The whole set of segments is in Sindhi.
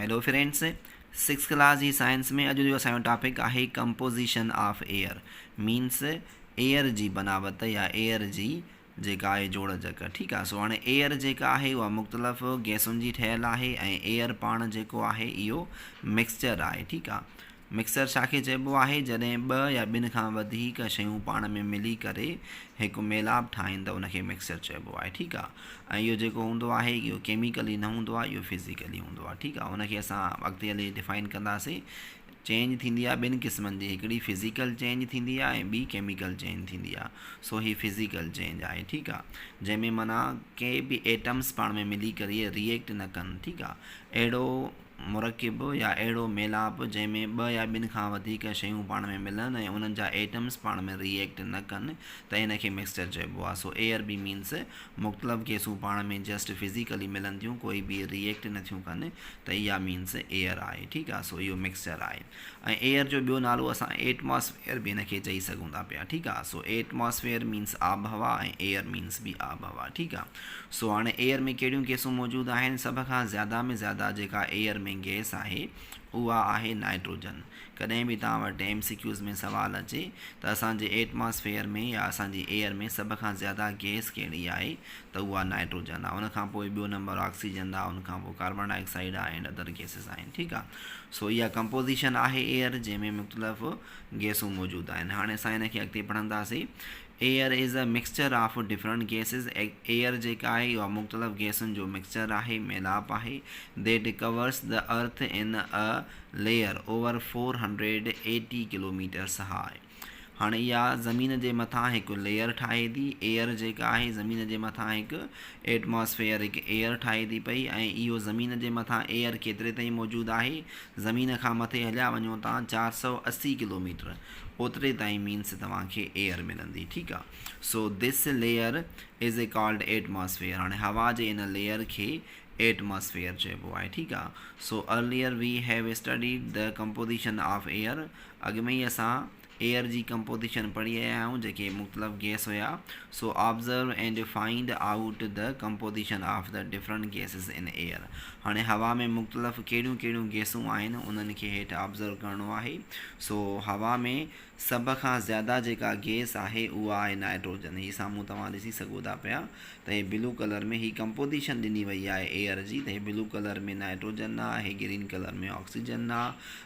هيلو فرينڊس سڪس ڪلاس جي سائنس ۾ اڄ جو اسان جو ٽاپڪ آهي composition of air minus air جي بناوت يا ايئر جي جيڪا آهي جوڙ جڪ ٺيڪ آهي سو هاڻي ايئر جيڪا آهي اها مختلف گيسن جي ٺهيل آهي ۽ ايئر پاڻ جيڪو آهي اهو مڪسچر آهي ٺيڪ آهي مڪسر ڇا کي چئبو آهي؟ جڏهن ٻه يا ٻن کان وڌيڪ شيون پاڻ ۾ ملي ڪري هڪ ميلاپ ٺاهين ته ان کي مڪسر چئبو آهي ٺيڪ آ ۽ اهو جيڪو هوندو آهي اهو ڪيميڪلي نه هوندو آهي اهو فزيڪلي هوندو آهي ٺيڪ آ ان کي اسان اڳتي هلي ڊفائن ڪنداسين چينج ٿيندي آهي ٻن قسمن جي هڪڙي فزيڪل چينج ٿيندي آهي ۽ ٻي ڪيميڪل چينج ٿيندي آهي سو هي فزيڪل چينج آهي ٺيڪ آ جنهن ۾ معنيٰ ڪي به ايٽمس پاڻ ۾ ملي ڪري ريئيڪٽ نه ڪن ٺيڪ آ اهڙو مرڪب يا اهڙو ميلاپ جنهن ۾ ٻه يا ٻن کان وڌيڪ شيون پاڻ ۾ ملن ۽ انهن جا ايٽمز پاڻ ۾ ري ايڪٽ نه ڪن ته ان کي مڪسچر چئبو آهي. سو اي عربي مينس مختلف گئسون پاڻ ۾ جسٽ فزيڪلي ملن ٿيون ڪوئي بي ري ايڪٽ نه ٿيون ڪن ته اها مينس ايئر آهي ٺيڪ آهي سو اهو مڪسچر آهي. ۽ ايئر جو ٻيو نالو اسان ايٽماسفيئر به ان کي چئي سگهون ٿا پيا ٺيڪ آ سو ايٽماسفيئر مينس آبهوا ۽ ايئر مينس به آبهوا ٺيڪ آ سو هاڻي ايئر ۾ ڪهڙيون گيسون موجود آهن سڀ کان زياده ۾ زياده جيڪا ايئر ۾ گيس آهي اها آهي نائٽروجن ڪڏهن به توهان وٽ ايم سي ڪيوز ۾ سوال اچي ته اسان جي ايٽماسفيئر ۾ يا اسان جي ايئر ۾ سڀ کان زياده گيس ڪهڙي آهي ته اها نائٽروجن آ ان کان پوء ٻيو نمبر آڪسيجن آ ان کان پوء ڪاربان ڊاء آڪسائيڊ آ اينڊ ادر گيسز آهن ٺيڪ آ سو اها ڪمپوزيشن آهي ايئر جنهن ۾ مختلف گيسون موجود آهن هاڻي اسان ان کي اڳتي پڙهنداسين air is a mixture of different gases air جيڪا آهي اها مختلف گيسن جو مڪسچر آهي ميلاپ آهي that covers the earth in a layer over four hundred eighty kilometres high. هاڻي اها زمين جي مٿان هڪ ليئر ٺاهي ٿي، ايئر جيڪا آهي زمين جي مٿان هڪ ائٽماسفيئر، هڪ ايئر ٺاهي ٿي پئي ۽ اهو زمين جي مٿان ايئر ڪيتري تائين موجود آهي، زمين کان مٿي هليا وڃو تان چار سؤ اسي ڪلوميٽر اوتري تائين مينس توهان کي ايئر ملندي ٺيڪ آ so this layer is a called atmosphere هاڻي هوا جي ان ليئر کي ائٽماسفيئر چئبو آهي ٺيڪ آ so earlier we have studied the composition of air اڳ ۾ ئي اسان ايئر جي ڪمپوزيشن پڙهي آيا آهيون جيڪي مختلف گئس هيا، so observe and find out the composition of the different gases in air. هاڻي هوا ۾ مختلف ڪهڙيون ڪهڙيون گئسون آهن انهن کي هيٺ آبزرو ڪرڻو آهي. سو هوا ۾ سڀ کان زياده جيڪا گئس آهي اها آهي نائٽروجن هي سامهون توهان ڏسي سگهو ٿا پيا ته هي بلو ڪلر ۾ هي ڪمپوزيشن ڏني وئي آهي ايئر جي ته هي بلو ڪلر ۾ نائٽروجن آهي، گرين ڪلر ۾ آڪسيجن آهي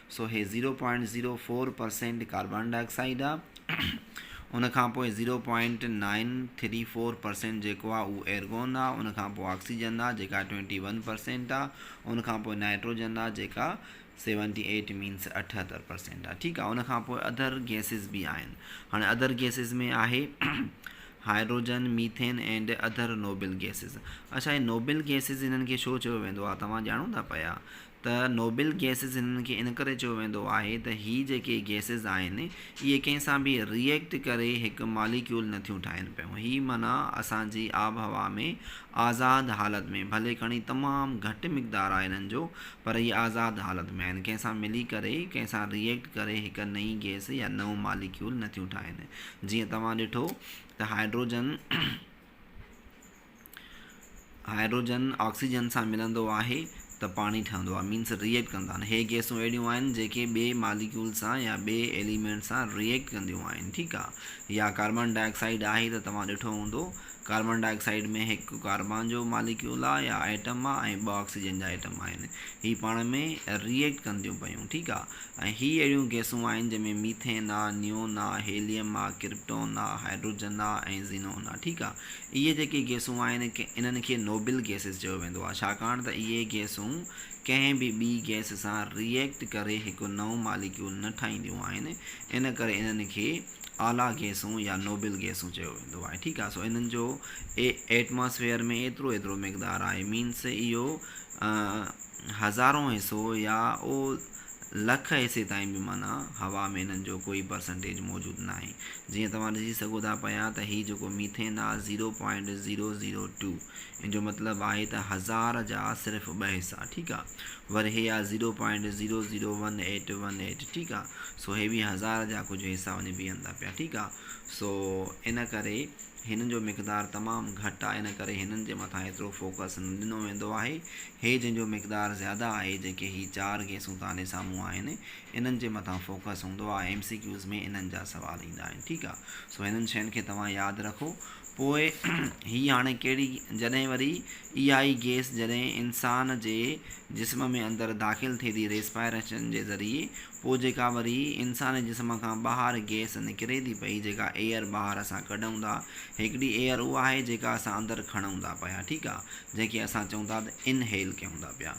سو هي zero point zero four percent carbon dioxide آ ان کان پوء zero point nine three four percent جيڪو آ اهو ايرگون آ ان کان پوء آڪسيجن آ جيڪا ٽوئنٽي ون پرسينٽ آ ان کان پوء نائٽروجن آ جيڪا سيونٽي ايٽ مينس اٺهتر پرسينٽ آ ٺيڪ آ ان کان پوء اڌر گيسز به آهن هاڻي اڌر گيسز ۾ آهي hydrogen methane and other noble gases اڇا هي نوبل گيسز هنن کي ڇو چيو ويندو آ توهان ڄاڻو ٿا پيا ته نوبل گيسز هنن کي ان ڪري چيو ويندو آهي ته هي جيڪي گيسز آهن اهي ڪنهن سان به ري ايڪٽ ڪري هڪ ماليڪيول نه ٿيون ٺاهين پيون هي معنيٰ اسان جي آبهوا ۾ آزاد حالت ۾ ڀلي کڻي تمام گهٽ مقدار آهي هنن جو پر اهي آزاد حالت ۾ آهن ڪنهن سان ملي ڪري ڪنهن سان ري ايڪٽ ڪري هڪ نئين گيس يا نئون ماليڪيول نه ٿيون ٺاهين جيئن توهان ڏٺو ته هائيڊروجن هائڊروجن آڪسيجن سان ملندو آهي ته پاڻي ٺهندو آهي مينس ريئيڪٽ ڪندا آهن هي گيسون اهڙيون آهن جيڪي ٻئي ماليڪيول سان يا ٻئي ايليمينٽ سان ريئيڪٽ ڪنديون آهن ٺيڪ آهي يا ڪاربان ڊاء آڪسائيڊ آهي ته توهان ڏٺو هوندو ڪاربان ڊاء آڪسائيڊ ۾ هڪ ڪاربان جو ماليڪيول آهي يا آئٽم آهي ۽ ٻه آڪسيجن جا آئٽم آهن هي پاڻ ۾ ريئيڪٽ ڪنديون پيون ٺيڪ آهي ۽ هي اهڙيون گيسون آهن جنهن ۾ ميٿين آهي نيون آهي هيليم آهي ڪرپٽون آهي هائڊروجن آهي ۽ زينون آهي ٺيڪ آهي اهي جيڪي گيسون آهن انهن کي نوبل گيسز چيو ويندو آهي ڇاڪاڻ ته اهي گيسون ڪنهن به ٻي گيس سان ري ايڪٽ ڪري هڪ نئون ماليڪيول نه ٺاهينديون آهن ان ڪري انهن کي اعليٰ گيسون يا نوبل گيسون چيو ويندو آهي ٺيڪ آهي سو انهن جو ايٽماسفيئر ۾ ايترو ايترو مقدار آهي مينس اهو هزارون حصو يا او لک حصي تائين به معنيٰ هوا ۾ انهن جو ڪوئي پرسنٽيج موجود ناهي جيئن توهان ڏسي سگهو ٿا پيا ته هي جيڪو ميٿين آهي zero point zero zero two ان جو مطلب آهي ته هزار جا صرف ٻه حصا ٺيڪ آهي ور هي آهي zero point zero zero one eight one eight ٺيڪ آهي سو هي به هزار جا ڪجهه حصا وڃي بيهن ٿا پيا ٺيڪ آهي سو ان ڪري هنن جو مقدار تمام گهٽ آهي ان ڪري هنن جي مٿان ايترو فوڪس نه ڏنو ويندو آهي هي جن جو مقدار زياده آهي جيڪي هي چار گيسون تهان ڏي سامهون آهن انهن جي مٿان فوڪس هوندو آهي ايم سي ڪيوز ۾ انهن جا سوال ايندا آهن ٺيڪ آهي سو هنن شين کي توهان ياد رکو پوء هي هاڻي ڪهڙي جڏهن وري اها ئي گيس جڏهن انسان جي جسم ۾ اندر داخل ٿئي ٿي ريسپائريشن جي ذريعي پوء جيڪا وري انساني جسم کان ٻاهر گيس نڪري ٿي پئي جيڪا ايئر ٻاهر اسان ڪڍون ٿا هڪڙي ايئر اها آهي جيڪا اسان اندر کڻون ٿا پيا ٺيڪ آهي جنهن کي اسان چئون ٿا ته Inhale ڪيون ٿا پيا.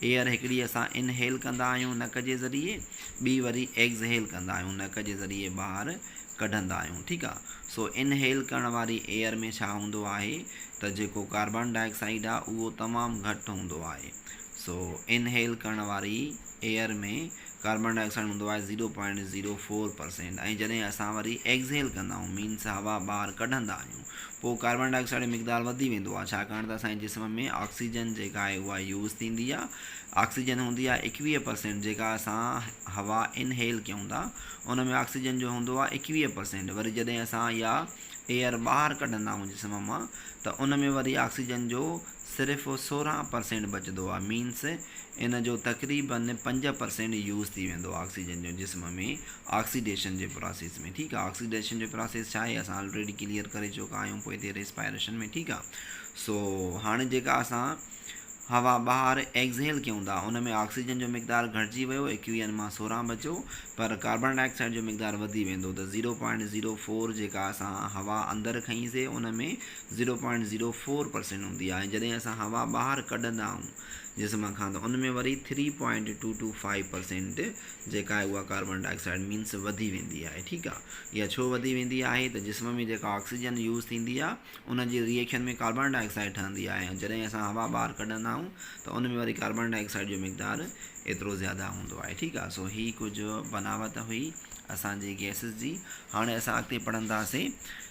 Air هڪڙي اسان Inhale ڪندا آهيون نڪ جي ذريعي، ٻي وري Exhale ڪندا آهيون نڪ جي ذريعي ٻاهر ڪڍندا آهيون ٺيڪ آ. سو Inhale ڪرڻ واري Air ۾ ڇا هوندو آهي ته جيڪو ڪاربان ڊاء آڪسائيڊ آ اهو تمام گهٽ هوندو آهي. سو Inhale ڪرڻ واري Air ۾ ڪاربان ڊاء آڪسائيڊ هوندو آهي zero point zero four percent ۽ جڏهن اسان وري Exhale ڪندا آهيون Means هوا ٻاهر ڪڍندا آهيون پوء ڪاربان ڊاء آڪسائيڊ جو مقدار وڌي ويندو آهي ڇاڪاڻ ته اسان جي جسم ۾ آڪسيجن جيڪا آهي اها يوز ٿيندي آهي آڪسيجن هوندي آهي ايڪويهه پرسينٽ جيڪا اسان هوا انهيل ڪيون ٿا ان ۾ آڪسيجن جو هوندو آهي ايڪويهه پرسينٽ وري جڏهن اسان اها ايئر ٻاهر ڪڍندا آهيون جسم مان ته ان ۾ وري آڪسيجن جو صرف سورهن پرسينٽ بچدو آهي مينس ان جو تقريبن پنج پرسينٽ يوز ٿي ويندو آهي آڪسيجن جو جسم ۾ آڪسيڊيشن جي پراسيس ۾ ٺيڪ آ آڪسيڊيشن جو پراسيس ڇا آهي اسان الريڊي ڪليئر ڪري چڪا آهيون پوء ٿي ريسپائريشن ۾ ٺيڪ آ سو هاڻي جيڪا اسان هوا ٻاهر ايگزيل ڪيون ٿا ان ۾ آڪسيجن جو مقدار گهٽجي ويو ايڪويئن مان سورهن بچو پر ڪاربن ڊاء آڪسائيڊ جو مقدار وڌي ويندو ته زيرو پوائنٽ زيرو فور جيڪا اسان هوا اندر کنئيسي ان ۾ zero point zero four percent هوندي آ ۽ جڏهن اسان هوا ٻاهر ڪڍندا آهون جسم کان ته ان ۾ وري three point two two five percent جيڪا آهي اها ڪاربان ڊاء آڪسائيڊ مينس وڌي ويندي آهي ٺيڪ آ اها ڇو وڌي ويندي آهي ته جسم ۾ جيڪا آڪسيجن يوز ٿيندي آ ان جي ريئيڪشن ۾ ڪاربان ڊاء آڪسائيڊ ٺهندي آهي ۽ جڏهن اسان هوا ٻاهر ڪڍندا آهيون ته ان ۾ وري ڪاربان ڊاء آڪسائيڊ جو مقدار ايترو زياده هوندو آهي ٺيڪ آ سو هي ڪجهه بناوت هئي اسان جي گيسز جي هاڻي اسان اڳتي پڙهنداسين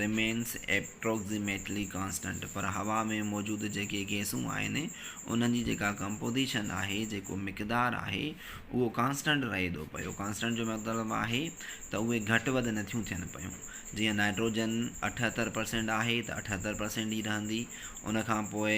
Remains Approximately Constant پر هوا ۾ موجود جيڪي گئسون آهن انهن جي جيڪا ڪمپوزيشن آهي جيڪو مقدار آهي اهو ڪانسٽنٽ رهي ٿو پيو ڪانسٽنٽ جو مطلب آهي ته اهي گهٽ وڌ نٿيون ٿين پيون جيئن نائٽروجن اٺهتر پرسينٽ آهي ته اٺهتر پرسينٽ ئي رهندي ان کان پوء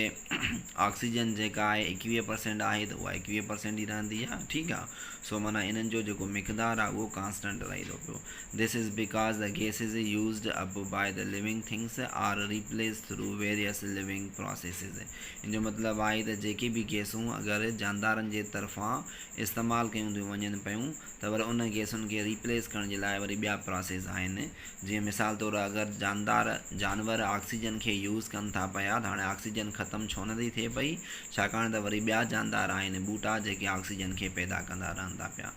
آڪسيجن جيڪا آهي ايڪويهه پرسينٽ آهي ته اها ايڪويهه پرسينٽ ئي رهندي آهي ٺيڪ آهي سو معنيٰ انهن جو جيڪو مقدار آهي اهو ڪانسٽنٽ رهي ٿو پيو This is because the gases used up by the living things are replaced through various living processes. ان جو مطلب آهي ته جيڪي به گيسون اگر جاندارن جي طرفان استعمال ڪيون ٿيون وڃن پيون ته وري ان گيسن کي ريپليس ڪرڻ جي لاء وري ٻيا پراسيس آهن. جيئن مثال طور اگر جاندار، جانور، آڪسيجن کي يوز ڪن ٿا پيا ته هاڻي آڪسيجن ختم ڇو نه ٿي ٿئي پئي ڇاڪاڻ ته وري ٻيا جاندار آهن، ٻوٽا، جيڪي آڪسيجن کي پيدا ڪندا رهن ٿا پيا.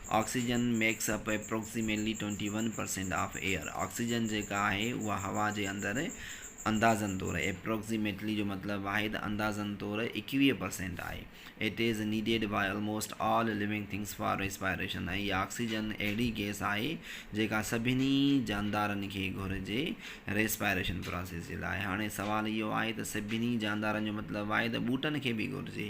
Oxygen makes up approximately twenty one percent of air, oxygen جيڪا آهي اها هوا جي اندر اندازن طور Approximately جو مطلب آهي ته اندازن طور ايڪويهه پرسينٽ آهي. It is needed by almost all living things for respiration ۽ هي آڪسيجن اهڙي گئس آهي جيڪا سڀني جاندارن کي گهرجي Respiration پراسيس جي لاء. هاڻي سوال اهو آهي ته سڀني جاندارن جو مطلب آهي ته ٻوٽن کي به گهرجي.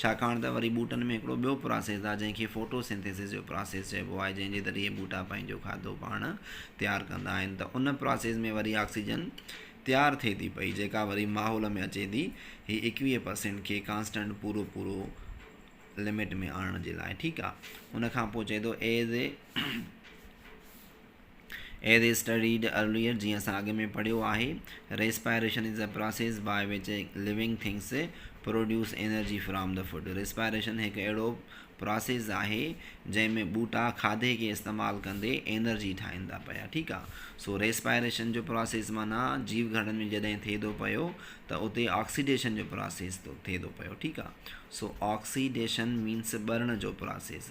ڇاڪاڻ ته وري ٻوٽن ۾ هڪڙو ٻيو پراسيس آهي جنهن کي فوٽو سنٿيسس جو پراسيس چئبو آهي جنهن جي ذريعي ٻوٽا پنهنجو کاڌو پاڻ تيار ڪندا آهن ته ان پراسيس ۾ وري آڪسيجن تيار ٿئي ٿي پئي جيڪا وري ماحول ۾ اچي ٿي هي ايڪويهه پرسينٽ کي ڪانسٽنٽ پورو پورو لمٽ ۾ آڻڻ جي لاء ٺيڪ آهي ان کانپوء چئي ٿو as a As is studied earlier، جيئن اسان اڳ ۾ پڙهيو آهي، Respiration is a process by which living things produce energy from the food. Respiration هڪ اهڙو پراسيس آهي جنهن ۾ ٻوٽا کاڌي کي استعمال ڪندي انرجي ٺاهين ٿا پيا ٺيڪ آ سو ريسپائريشن جو پراسيس معنيٰ جيو گهڙن ۾ جڏهن ٿئي ٿو پيو ته اتي آڪسيڊيشن جو پراسيس ٿو ٿئي ٿو پيو ٺيڪ آ سو آڪسيڊيشن مينس ٻرڻ جو پراسيس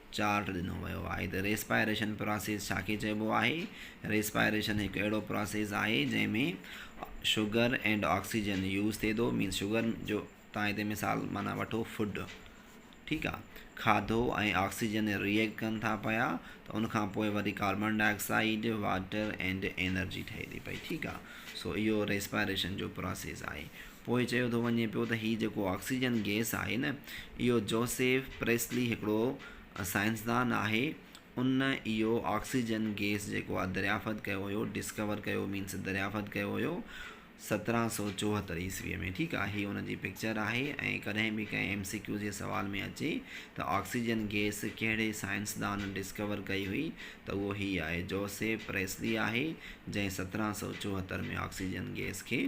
چارٽ ڏنو ويو آهي ته ريسپائريشن پراسيس ڇا کي چئبو آهي؟ ريسپائريشن هڪ اهڙو پراسيس آهي جنهن ۾ شگر اينڊ آڪسيجن يوز ٿئي ٿو مينس شگر جو تان هتي مثال معنيٰ وٺو فوڊ ٺيڪ آ کاڌو ۽ آڪسيجن ريئيڪٽ ڪن ٿا پيا ته ان کان پوء وري carbon dioxide water and energy ٺهي ٿي پئي ٺيڪ آ سو اهو ريسپائريشن جو پراسيس آهي پوء چيو ٿو وڃي پيو ته هي جيڪو آڪسيجن گئس آهي نه اهو جوسيف پريسلي هڪڙو سائنسدان آهي ان اهو آڪسيجن گئس جيڪو آهي دريافت ڪيو هيو ڊسڪور ڪيو مينس دريافت ڪيو هيو سترهن سؤ چوهتر عيسوي ۾ ٺيڪ آهي هي ان جي پڪچر آهي ۽ ڪڏهن به ڪنهن ايم سي ڪيو جي سوال ۾ اچي ته آڪسيجن گئس ڪهڙي سائنسدان ڊسڪور ڪئي هئي ته اهو هي آهي جوسيف پريسلي آهي جنهن سترهن سؤ چوهتر ۾ آڪسيجن گئس کي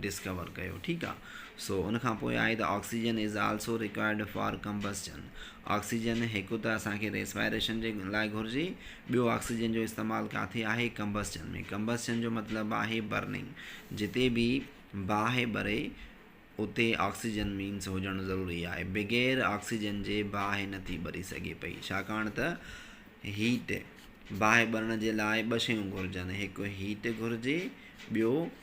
ڊسڪور ڪيو ٺيڪ آ سو ان کان پوء آهي ته oxygen is also required for combustion oxygen هڪ ته اسان کي ريسپائريشن جي لاء گهرجي ٻيو آڪسيجن جو استعمال ڪاٿي آهي ڪمبسچن ۾ ڪمبسچن جو مطلب آهي برننگ جتي به باهه ٻري اتي آڪسيجن مينس هجڻ ضروري آهي بغير آڪسيجن جي باهه نٿي ٻري سگهي پئي ڇاڪاڻ ته هيٽ باهه ٻرڻ جي لاء ٻه شيون گهرجن هڪ هيٽ گهرجي ٻيو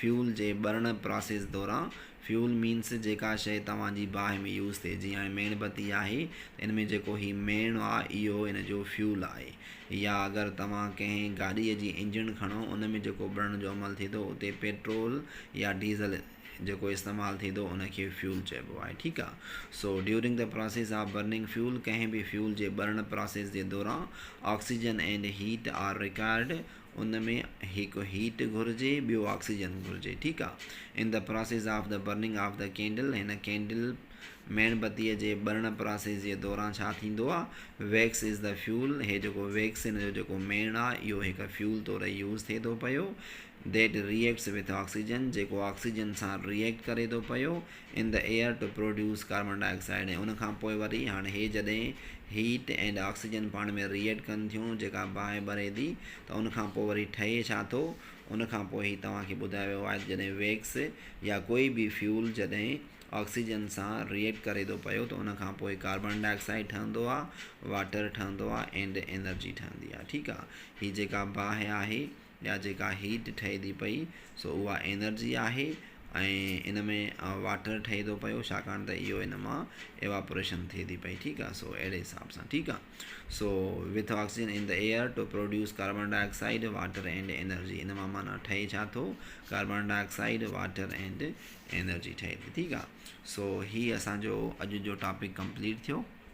فيول جي ٻرڻ پراسيس دوران Fuel Means جيڪا شيء توهان جي باهه ۾ يوز ٿئي جيئن هاڻي ميڻ بتي آهي ته ان ۾ جيڪو هي ميڻ آ اهو ان جو Fuel آهي يا اگر توهان ڪنهن گاڏيء جي انجڻ کڻو ان ۾ جيڪو ٻرڻ جو عمل ٿئي ٿو اتي پيٽرول يا ڊيزل جيڪو استعمال ٿئي ٿو ان کي Fuel چئبو آهي ٺيڪ آ سو During the process of burning fuel ڪنهن به فيول جي ٻرڻ پراسيس جي دوران oxygen and heat are required ان ۾ هڪ هيٽ گهرجي ٻيو آڪسيجن گهرجي ٺيڪ آ in the process of the burning of the candle هن ڪينڊل ميڻ بتي جي ٻرڻ پراسيس جي دوران ڇا ٿيندو آ ويڪس از دي فيول هي جيڪو ويڪس هن جو جيڪو ميڻ آ اهو هڪ فيول طور يوز ٿئي ٿو پيو ديٽ ريئيڪٽس وٿ آڪسيجن جيڪو آڪسيجن سان ريئيڪٽ ڪري ٿو پيو in the air to produce carbon dioxide ۽ ان کان پوء وري هاڻ هي جڏهن هيٽ اينڊ آڪسيجن پاڻ ۾ ريئيڊ ڪن ٿيون جيڪا باهه ٻري ٿي ته ان کان پوء وري ٺهي ڇا ٿو ان کان پوء هي توهان کي ٻڌايو ويو آهي ته جڏهن ويڪس يا ڪوئي به فيول جڏهن آڪسيجن سان ريئيڊ ڪري ٿو پيو ته ان کان پوء ڪاربن ڊاء آڪسائيڊ ٺهندو آهي واٽر ٺهندو آهي اينڊ انرجي ٺهندي آهي ٺيڪ آهي هي جيڪا باهه آهي يا جيڪا هيٽ ٺهي ٿي پئي سو اها انرجي آهي ۽ ان ۾ واٽر ٺهي ٿو پيو ڇاڪاڻ ته اهو ان مان ايواپوريشن ٿئي ٿي پئي ٺيڪ آهي سو اهڙي حساب سان ٺيڪ آهي so with oxygen in the air to produce carbon dioxide water and energy ان مان معنيٰ ٺهي ڇا ٿو carbon dioxide water and energy ٺهي ٿي ٺيڪ آهي سو هي اسانجو اڄ جو ٽاپڪ ڪمپليٽ ٿيو